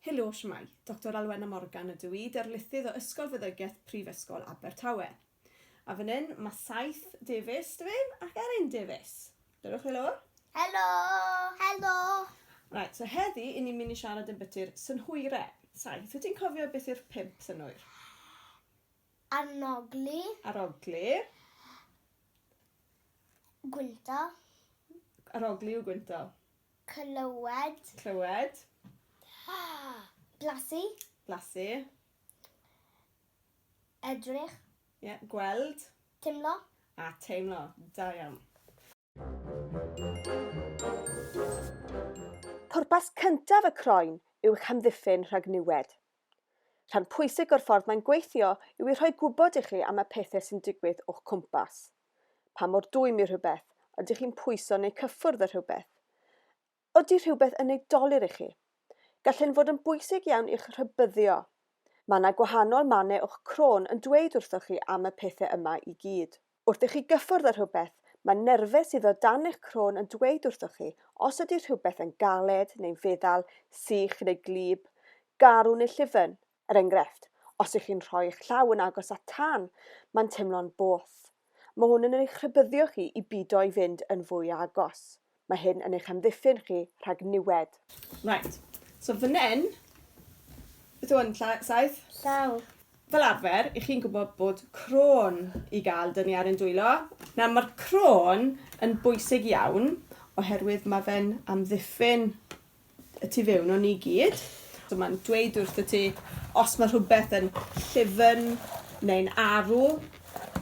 Helo, shwmae? Doctor Alwena Morgan ydw i, darlithydd o Ysgol Feddygaeth Prifysgol Abertawe. A fan hyn, mae saith Davies, dwi ddim, ac Erin Davies. Dewch chi lawr. Helo! Helo! Right, so heddi, i ni'n mynd i siarad yn byty'r synhwyre. Saith, wyt ti'n cofio beth yw'r pimp synhwyr? Arnogli. Arogli. Gwynto. Arogli yw gwynto. Clywed. Clywed. Blasu. Blasu. Edrych. Ie, gweld. Timlo. A teimlo. Da iawn. Pwrpas cyntaf y croen yw eich hamddiffyn rhag niwed. Rhan pwysig o'r ffordd mae'n gweithio yw i rhoi gwybod i chi am y pethau sy'n digwydd o'ch cwmpas. Pa mor dwym yw rhywbeth, ydych chi'n pwyso neu cyffwrdd â rhywbeth, Ydy rhywbeth yn ei dolur i chi? Gall hyn fod yn bwysig iawn i'ch rhybuddio. Mae yna gwahanol mannau o'ch crôn yn dweud wrthoch chi am y pethau yma i gyd. Wrth i chi gyffwrdd â rhywbeth, mae nerfau sydd o dan eich crôn yn dweud wrthoch chi os ydy rhywbeth yn galed neu'n feddal, sych neu gwlyb, garw neu llyfn. Er enghraifft, os ych chi'n rhoi eich llaw yn agos at tân, mae'n teimlo'n boeth. Mae hwn yn eich rhybuddio chi i bido i fynd yn fwy agos. Mae hyn yn eich amddiffyn chi rhag niwed. Right, so fan hyn, beth yw hwn, lla- saeth? Llaw. Fel arfer, 'ych chi'n gwybod bod crôn i gael dynnu ar ein dwylo. Nawr, mae'r crôn yn bwysig iawn oherwydd mae fe'n amddiffyn y tu fewn o ni gyd. So mae'n dweud wrth ti os mae rhywbeth yn llyfn neu'n arw,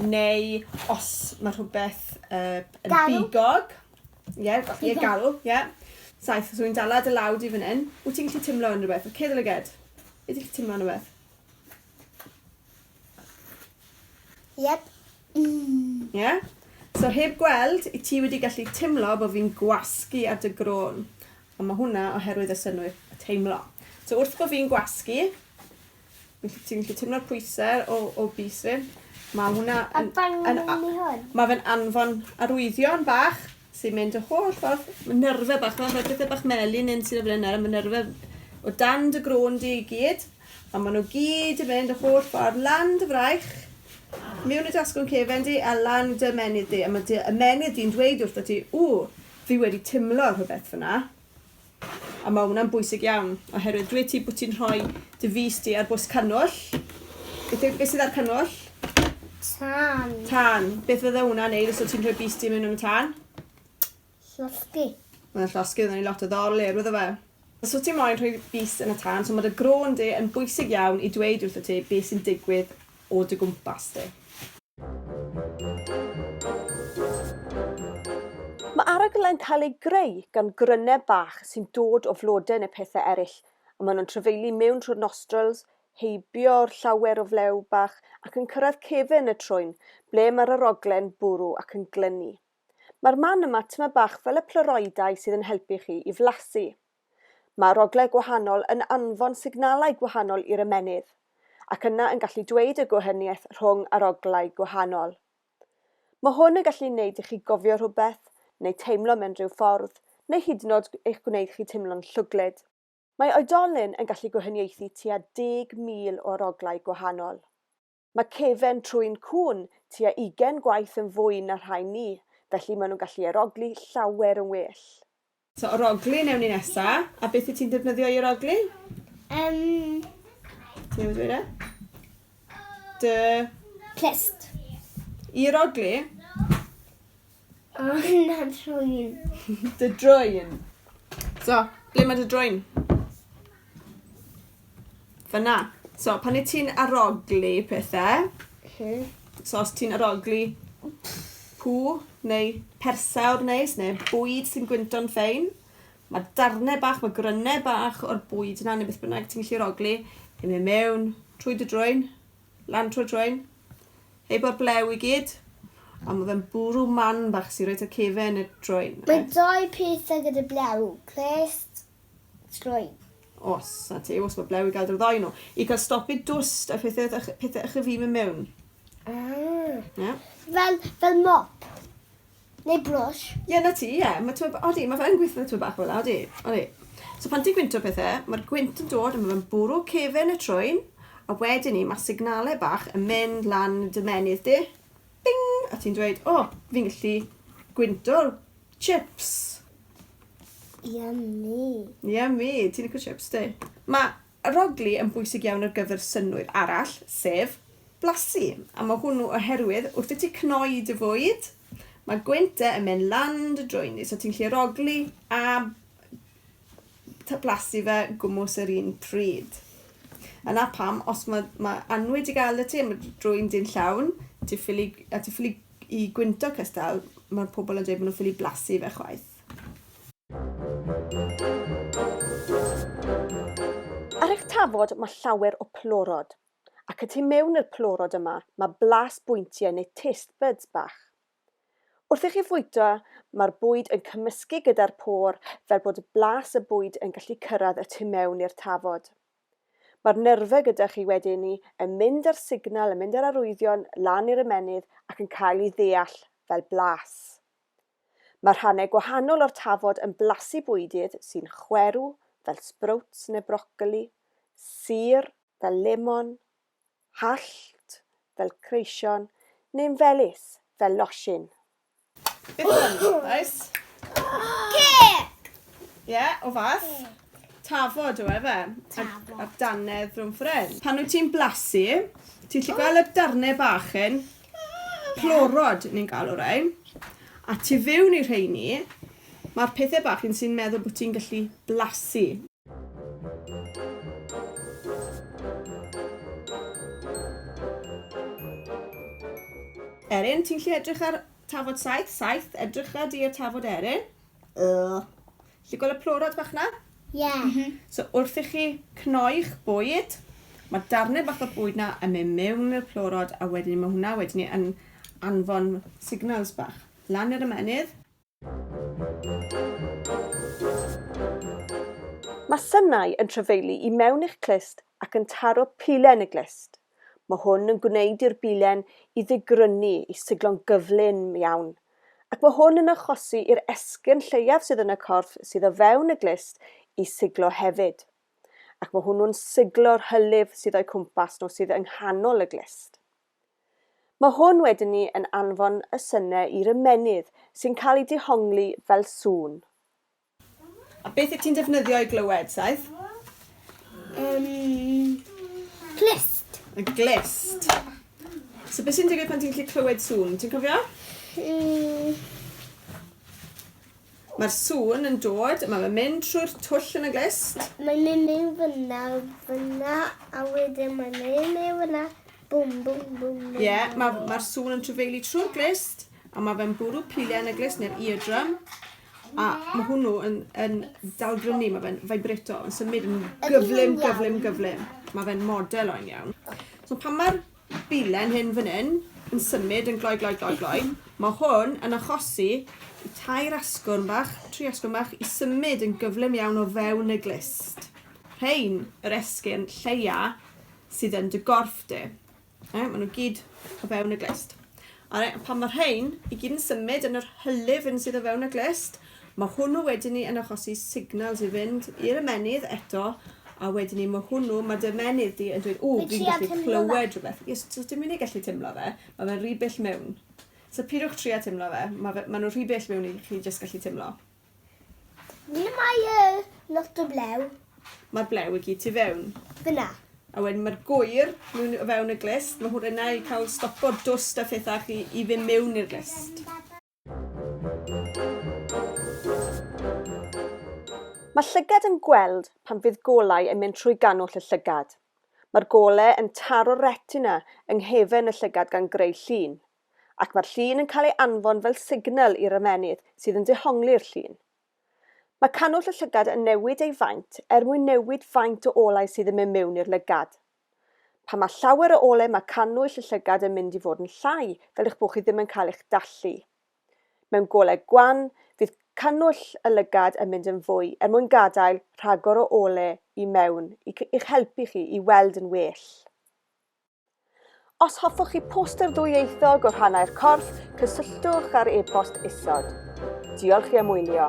neu os mae rhywbeth uh, yn garw. bigog. Ie, yeah, yeah, garw, ie. Yeah. Saith, so i'n dala dy law di fan hyn. Wyt ti'n gallu timlo yn rhywbeth? Cedd o lyged. Wyt ti'n gallu timlo yn rhywbeth? Yep. Mm. Ie? Yeah? So heb gweld, i ti wedi gallu timlo bod fi'n gwasgu ar dy grôn. Ond mae hwnna oherwydd y synwyr y teimlo. So wrth bod fi'n gwasgu, ti'n gallu teimlo'r pwysau o, o bus fi. Mae hwnna... Yn, yn, yn, mae fe'n anfon arwyddion bach sy'n mynd y holl ffordd, mae nyrfa bach yma, mae pethau bach melyn yn sy'n flaen nawr, mae nyrfa o dan dy grôn di i gyd, a maen nhw gyd yn mynd y holl ffordd lan dy fraich, mewn y dasgwn cefen di, a lan dy ymenydd di, a mae dy ymenydd di'n dweud wrth ti, ww, fi wedi timlo rhywbeth fyna. A mae hwnna'n bwysig iawn, oherwydd dwyt ti bod ti'n rhoi dy fys di ar bws cannwyll. Beth yw, beth sydd ar cannwyll? Tân. Tân. Beth fydde hwnna'n neud os o ti'n rhoi bys di mewn yn y tân? Llosgi. Mae'n llosgi, oedden ni lot o ddol i'r wyddo fe. Os wyt ti moyn rhoi bys yn y tân, so mae dy grôn di yn bwysig iawn i dweud wrth y ti beth sy'n digwydd o dy gwmpas di. Mae arogl yn cael ei greu gan gryneb fach sy'n dod o flode neu pethau eraill, a maen nhw'n trafeilu mewn trwy'r nostrils, heibio llawer o flew bach, ac yn cyrraedd cefn y trwyn, ble mae'r arogle'n bwrw ac yn glynu. Mae'r man yma tymed bach fel y pleuroidau sydd yn helpu chi i flasu. Mae rhoglau gwahanol yn anfon signalau gwahanol i'r ymennydd, ac yna yn gallu dweud y gwahaniaeth rhwng aroglau gwahanol. Mae hwn yn gallu neud i chi gofio rhywbeth, neu teimlo mewn rhyw ffordd, neu hyd yn od eich gwneud chi teimlo'n llwglyd. Mae oedolyn yn gallu gwahaniaethu tua 10,000 o aroglau gwahanol. Mae cefen trwyn cŵn tua ugain gwaith yn fwy na rhai ni, felly maen nhw'n gallu arogli llawer yn well. So arogli newn ni nesa, a beth wyt ti'n defnyddio i arogli? Yym... Ti newydd dweud e? Dy... Clust. I arogli? O, na drwyn. Dy drwyn. So, ble mae dy drwyn? Fyna. So, pan i ti'n aroglu pethau, hmm. so os ti'n aroglu pŵ neu persawr neis neu bwyd sy'n gwynto'n ffein, mae darnau bach, mae grynau bach o'r bwyd yna neu beth bynnag ti'n gallu aroglu yn mynd mewn trwy dy drwyn Lantwr Joen. Heibio'r blew i gyd. A ma fe'n bwrw man bach sy reit ar cefen y Joen. Mae dau pethau gyda blew, clust, Joen. Os, na ti, os mae blew i gael drwy ddoi nhw. I cael stopu dwst a pethau wrth ych, pethau ych y fi mynd mewn. Ah. Ie. Fel, fel mop. Neu brwsh. Ie, 'na ti, ie. Ma' t'mod, odi, ma' fe yn gweithio tipyn bach fela, odi, odi. So pan ti'n gwynto pethe, ma'r gwynt yn dod a ma' fe'n bwrw cefen y trwyn, a wedyn 'ny ma' signale bach yn mynd lan dy ymennydd di, bing! A ti'n dweud, o, fi'n gallu gwynto chips. Yummy. Yummy, ti'n lico chips, ti? Ma' Arogli yn bwysig iawn ar gyfer synnwyr arall, sef blasu. A mae hwnnw oherwydd wrth i ti cnoi dy fwyd, mae gwynt de yn mynd lan dy drwyn di, so ti'n gallu arogli a blasu fe gwmws yr un pryd. Yna pam, os mae, mae anwyd i gael y ti, mae drwyn di'n llawn, ti ffili, a ti ffili i gwynto cystal, mae pobl yn dweud maen nhw'n ffili blasu fe chwaith. Ar eich tafod mae llawer o plorod, ac y tu mewn i'r plorod yma mae blas bwyntiau neu taste buds bach. Wrth i chi fwyta mae'r bwyd yn cymysgu gyda'r pôr fel bod blas y bwyd yn gallu cyrraedd y tu mewn i'r tafod. Mae'r nerfau gyda chi wedyn ni yn mynd â'r signal, yn mynd â'r arwyddion lan i'r ymennydd ac yn cael ei ddeall fel blas. Mae rhannau gwahanol o'r tafod yn blasu bwydydd sy'n chwerw fel sbrowts neu brocoli, sur, fel lemon, hallt, fel creision, neu'n felys, fel losin. Beth yw hwn? Oes? Cêc! Ie, o fath? Tafod yw e fe? Tafod. A'r dannedd rhwng ffres. Pan wyt ti'n blasu, ti'n lli gweld y darnau bach hyn? Plorod, ni'n galw rhain. A tu fewn i rheini, mae'r pethau bach yn sy'n meddwl bod ti'n gallu blasu. Erin, ti'n lli edrych ar tafod saith? Saith, edrycha di ar tafod Erin. Ugh. Chi gweld y plorod bach 'na? Ie. Mhm. So wrth i chi cnoi'ch bwyd, mae darnau bach o bwyd 'na yn mynd mewn i'r plorod a wedyn mae hwnna wedyn ni yn anfon signals bach lan i'r ymennydd. Mae synau yn trafeilu i mewn i'ch clust ac yn taro pile yn y glust. Mae hwn yn gwneud i'r bilen i ddigrynu i siglo'n gyflym iawn, ac mae hwn yn achosi i'r esgyrn lleiaf sydd yn y corff sydd o fewn y glust i siglo hefyd, ac mae hwnnw'n siglo'r hylif sydd o'u cwmpas nhw sydd yng nghanol y glust. Mae hwn wedyn ni yn anfon y synau i'r ymennydd sy'n cael ei dihongli fel sŵn. A beth wyt ti'n defnyddio i glywed, Saith? Um, glist. Y glist. So beth sy'n digwydd pan ti'n gallu clywed sŵn? Ti'n cofio? Mm. Mae'r sŵn yn dod, mae fe'n mynd trwy'r twll yn y glist. Mae'n mynd mewn fyna, fyna, a wedyn mae'n mynd mewn fyna. Bwm, bwm, bwm. Ie, yeah, mae'r ma sŵn yn trefeili trwy'r glist, a mae fe'n bwrw piliau yn y glist neu'r eardrum. A mae hwnnw yn, yn daldrynu, mae fe'n vibrato, yn symud yn gyflym, gyflym, gyflym. Mae fe'n model o'n iawn. So pan mae'r bilen hyn fan hyn yn symud yn gloi, gloi, gloi, gloi, mae hwn yn achosi i tair asgwrn bach, tri asgwrn bach, i symud yn gyflym iawn o fewn y glist. Rhain yr esgyrn lleia sydd yn dy gorff di. Ie, maen nhw gyd o fewn y glust. Alright, a pan mae rhain i gyd yn symud yn yr hylif yn sydd o fewn y glust, mae hwnnw wedyn ni yn achosi signals i fynd i'r ymenydd eto, a wedyn ni mae hwnnw, mae dy ymenydd di yn dweud, o, fi'n gallu clywed rhywbeth. Yes, so dim yn ei gallu teimlo fe, mae fe'n rhy bell mewn. So pidwch trio teimlo fe, mae, fe, mae nhw'n rhy bell mewn i chi jyst gallu teimlo. Ni mae y lot o blew. Mae'r blew i gyd tu fewn. Fyna. A wedyn mae'r gwyr mewn o fewn y glust. Mae hwn yna i cael stopo dwst a phethau chi i ddim mewn i'r glust. Mae llygad yn gweld pan fydd golau yn mynd trwy gannwll y llygad. Mae'r golau yn taro'r retina yng nghefn y llygad gan greu llun. ac mae'r llun yn cael ei anfon fel signal i'r ymennydd sydd yn dehongli'r llun. Mae cannwll y llygad yn newid ei faint er mwyn newid faint o olau sydd yn mynd mewn i'r lygad. Pan mae llawer o ole mae cannwyll y llygad yn mynd i fod yn llai fel eich bod chi ddim yn cael eich dallu. Mewn golau gwan, fydd cannwyll y lygad yn mynd yn fwy er mwyn gadael rhagor o ole i mewn i'ch helpu chi i weld yn well. Os hoffwch chi poster ddwyieithog o rhannau'r corff, cysylltwch ar e-bost isod. Diolch i am wylio.